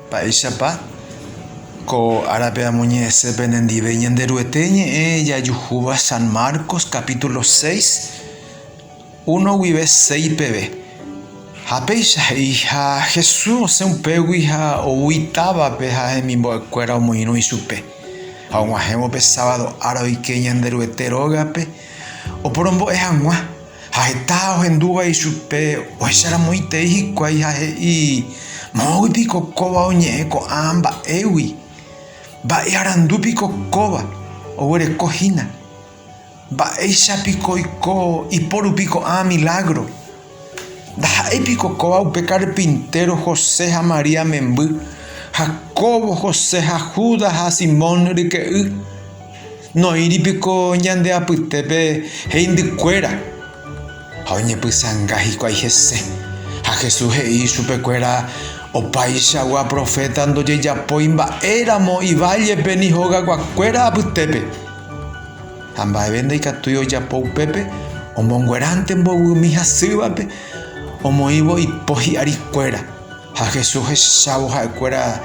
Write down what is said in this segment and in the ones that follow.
Mba'éichapa ko árape amoñe'ẽse penendive Ñanderuete ñe'ẽ jajuhúva San Marcos capítulo seis, uno guive seis peve. Ha péicha he'iha Jesús osẽ upégui ha ou itávape ha hemimbo'ekuéra omoirũ ichupe. Ha og̃uahẽvo pe sábado ára oike Ñanderuete rógape oporombo'e hag̃ua. Ha heta ohendúva ichupe ohecharamoitei hikuái ha he'i, Moõgui piko kóva oñe'ẽ ko'ã mba'égui? Mba'e arandu piko kóva oguereko hína? Mba'éicha piko oiko iporupi ko'ã milágro? Ndaha'éi piko kóva upe karpintéro José ha María memby, Jacóbo, José ha Judas ha Simón ryke'y? Noĩri piko ñande apytépe heindykuéra, ha oñepysãnga hikuái hese. Ha Jesús he'i ichupekuéra, Opaichagua proféta ndojejapói mba'éramo ivállepe ni hogakuakuéra apytépe. Ha mba'eve ndaikatúi ojapo upépe, omongueránte mboyvumi hasývape omoĩvo ipo hi'arikuéra. Ha Jesús hechávo ha'ekuéra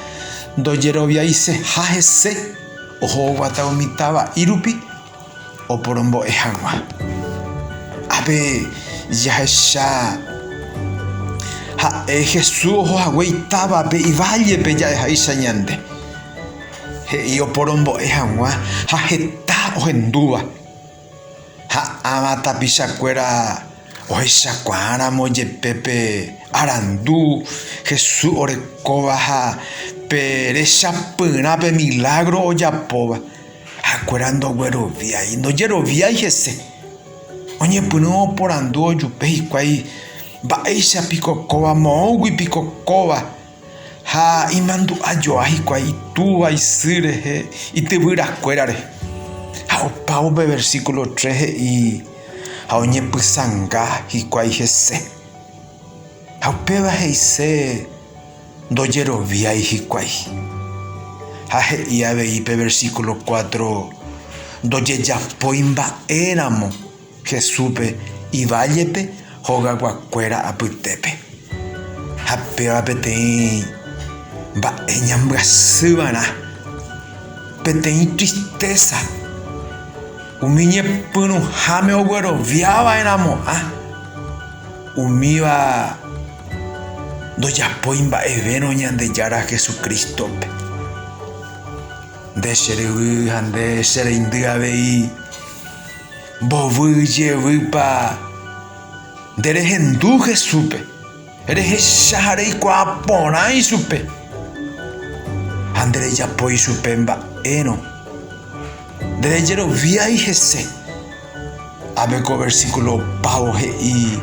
ndojeroviaiseha hese. Ohoguata umi táva írupi oporombo'e hag̃ua. Ápe jahecha ha'e Jesús oho hague itávape ivállepe ja'eháicha ñande. He'i oporombo'e hag̃ua ha heta ohendúva. Ha ãva tapichakuéra ohechakuaáramo jepe pe arandu Jesús orekóva ha pe rechapyrã pe milágro ojapóva, ha'ekuéra ndogueroviái, ndojeroviái hese. Oñepyrũ oporandu ojupe hikuái, Mba'éicha piko kóva? Moõgui piko kóva? Ha imandu'a joa hikuái itúva isy rehe ityvyrakuéra rehe. Ha opa upe versíkulo tres he'i, Ha oñepysãnga hikuái hese. Ha upéva he'ise ndojeroviái hikuái. Ha he'i avei pe versíkulo cuatro, Ndojejapói mba'éramo. Jesúspe ivállepe hogaguakuéra apytépe. Ha péva peteĩ mba'e ñambyasývarã, peteĩ tristésa, umi ñepyrũháme ogueroviava'erãmo'ã, umíva ndojapói mba'evérõ Ñandejára Jesucrístope. Nde che ryvy ha nde che reindy avei. Mbovyy jevýpa nde rehendu Jesúspe, rehecha ha reikuaa porã ichupe, ha nde rejapo ichupe mba'érõ, nde rejeroviái hese. Ápe ko versíkulo opávo he'i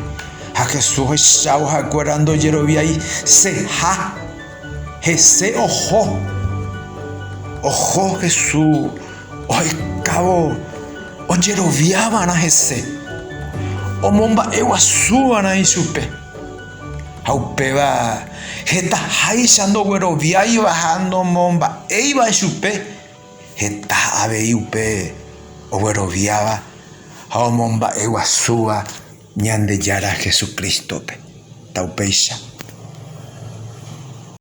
ha Jesús ohechávo ha'ekuéra ndojeroviaiseha. Hese oho. Oho Jesús ohaikávo ojerovia va'erã hese, omomba'e guasu va'erã ichupe. Ha upéva hetaháicha ndogueroviáiva ha nomomba'éiva ichupe, heta avei upe ogueroviáva ha omomba'e guasúva Ñandejára Jesucrístope. Taupéicha.